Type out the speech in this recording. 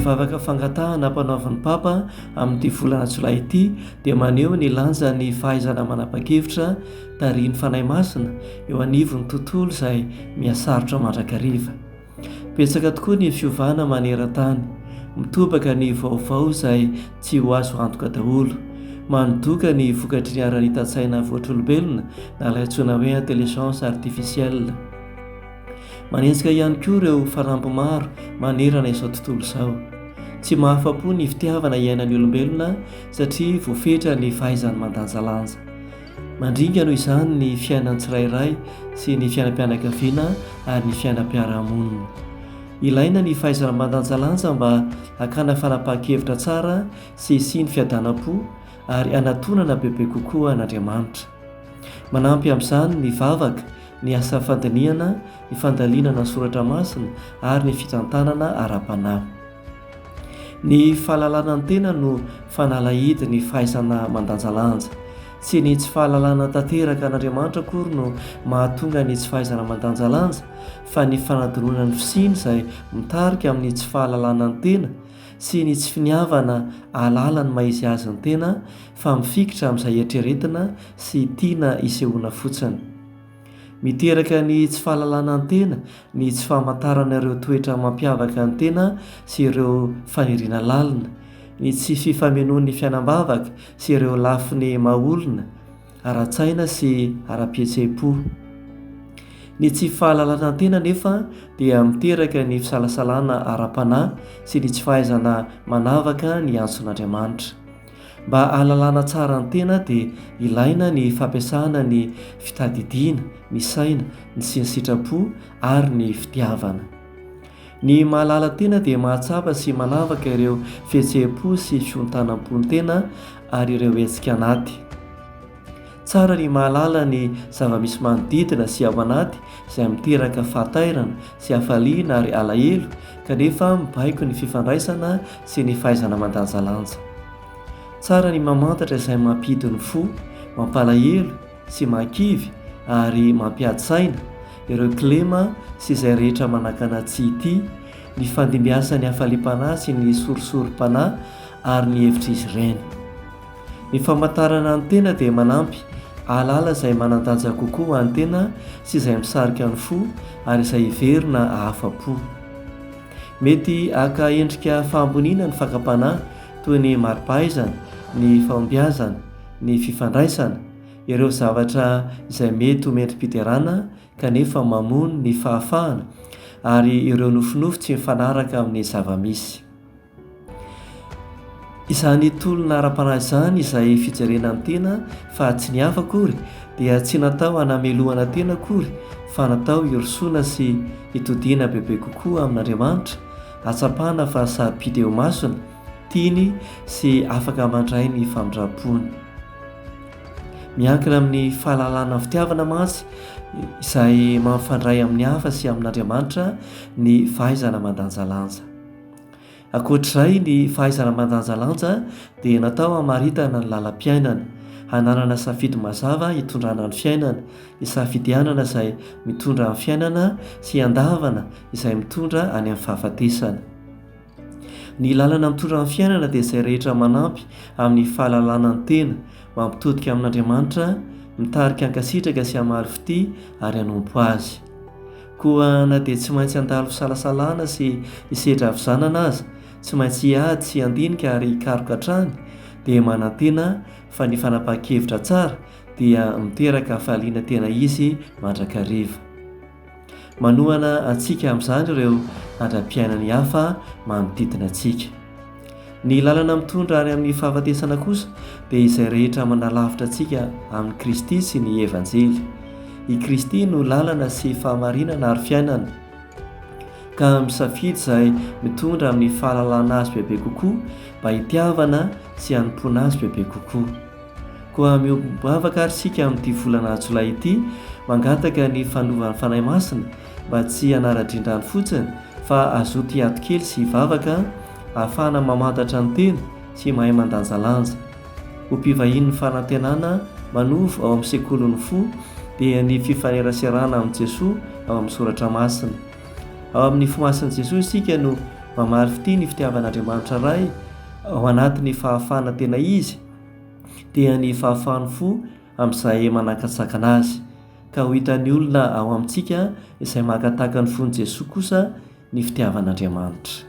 vavaka fangatahana ampanaovin'ny papa amin'ity volana jolay ity dia maneho ny lanjan'ny fahaizana manapa-kevitra tarihin'ny fanahy masina eo anivon'ny tontolo izay mihasarotra mandrakariva Betsaka tokoa ny fiovana maneran-tany. Mitobaka ny vaovao izay tsy ho azo antoka daholo. Manodoka ny vokatry ny haranitan-tsaina voatr'olombelona na ilay antsoina hoe intelligence artificielle. Manenjika ihany koa ireo faramby maro manerana izao tontolo izao. Tsy mahafa-po ny fitiavana iainan'ny olombelona satria voafetra ny fahaizany mandanjalanja. Mandringa noho izany ny fiainan'ny tsirairay sy ny fiainam-pianakaviana ary ny fiainam-piarahamonina. Ilaina ny fahaizana mandanjalanja mba hakana fanapahan-kevitra tsara sy hisian'ny fiadanam-po ary hanatonana bebe kokoa an'Andriamanitra. Manampy amin'izany ny vavaka, ny asa fandinihana, ny fandalinana ny soratra masina ary ny fitantanana ara-panahy. Ny fahalalana ny tena no fanalahidy ny fahaizana mandanjalanja. Tsy ny tsy fahalalana tanteraka an'Andriamanitra akory no mahatonga ny tsy fahaizana mandanjalanja fa ny fanadinoana ny fisiany izay mitarika amin'ny tsy fahalalana ny tena sy ny tsy finiavana ahalala ny maha-izy azy ny tena fa mifikitra amin'izay eritreretina sy tiana isehoana fotsiny. Miteraka ny tsy fahalalana ny tena ny tsy famantarana ireo toetra mampiavaka ny tena sy ireo fahirina lalina, ny tsy fifamenoan'ny fiainam-bavaka sy ireo lafiny maha-olona, ara-tsaina sy ara-pihetseham-po. Ny tsy fahalalana ny tena anefa dia miteraka ny fisalasalana ara-panahy sy ny tsy fahaizana manavaka ny antson'Andriamanitra. Mba hahalalana tsara ny tena dia ilaina ny fampiasana ny fitadidiana, ny saina, ny sinsitrapo ary ny fitiavana. Ny mahalala tena dia mahatsapa sy manavaka ireo fihetseham-po sy fiontanam-po ny tena ary ireo hetsika anaty. Tsara ny mahalala ny zava-misy manodidina sy ao anaty izay miteraka fahatairana sy hafaliana ary alahelo kanefa mibaiko ny fifandraisana sy ny fahaizana mandanjalanja. Tsara ny mamantatra izay mampihidy ny fo, mampalahelo sy mahakivy ary mampiady saina, ireo kilema sy izay rehetra manakana tsy hitia, nifandimbiasan'ny hafaliam-panahy sy ny sorisorim-panahy ary ny hevitr'izy ireny. Ny famantarana ny tena dia manampy hahalala izay manan-danja kokoa ho an'ny tena sy izay misarika ny fo ary izay hiverina hahafa-po. Mety haka endrika fahamboniana ny fakam-panahy toy ny mari-pahaizana, ny fahombiazana, ny fifandraisana, ireo zavatra izay mety ho mendri-piderana kanefa mamono ny fahafahana, ary ireo nofinofy tsy mifanaraka amin'ny zava-misy. Izany tolona ara-panahy izany izay fijerena ny tena fa tsy ny hafa akory dia tsy natao hanamelohana tena akory fa natao hirosoana sy hitodiana bebe kokoa amin'Andriamanitra, hahatsapana fa sarobidy eo imasony, tiany sy afaka mandray ny famindram-pony. Miankina amin'ny fahalalana ny fitiavana mantsy izay mampifandray amin'ny hafa sy amin'Andriamanitra ny fahaizana mandanjalanja. Ankoatr'izay, ny fahaizana mandanjalanja dia natao hamaritana ny lalam-piainana, hananana safidy mazava hitondrana ny fiainana, hisafidianana izay mitondra amin'ny fiainana sy hiandavana izay mitondra any amin'ny fahafatesana. Ny lalana mitondra amin'ny fiainana dia izay rehetra manampy amin'ny fahalalana ny tena, mampitodika amin'Andriamanitra, mitarika hankasitraka sy hamaly fitia ary hanompo Azy. Koa na dia tsy maintsy handalo fisalasalana sy hisedra havizanana aza, tsy maintsy hiady sy handinika ary hikaroka hatrany, dia manantena fa ny fanapahan-kevitra tsara dia miteraka hafaliana tena izy mandrakariva. Manohana antsika amin'izany ireo andram-piainan'ny hafa manodidina antsika. Ny lalana mitondra any amin'ny fahafatesana kosa dia izay rehetra manalavitra antsika amin'i Kristy sy ny Evanjely. I Kristy no lalana sy fahamarinana ary fiainana. Ka misafidy izay mitondra amin'ny fahalalana azy bebe kokoa mba hitiavana sy hanompoana azy bebe kokoa. Koa mihogo-bavaka àry isika amin'ity volana jolay ity, mangataka ny fanovan'ny Fanahy Masina mba tsy hanara-drendrany fotsiny fa hazoto hiato kely sy hivavaka ahafahana mamantatra ny tena sy mahay mandanjalanja. Ho mpivahian'ny fanantenana manovo ao amin'ny Sekolin'ny fo dia ny fifaneraserana amin'i Jesoa ao amin'ny Soratra Masina. Ao amin'ny nify masin'i Jesoa isika no mamaly fitia ny fitiavan'Andriamanitra Ray ao anatin'ny fahafahana tena Izy, dia ny fahafahan'ny fo amin'izay manakantsakana azy, ka ho hitan'ny olona ao amintsika izay mankataka ny fon'i Jesoa kosa ny fitiavan'Andriamanitra.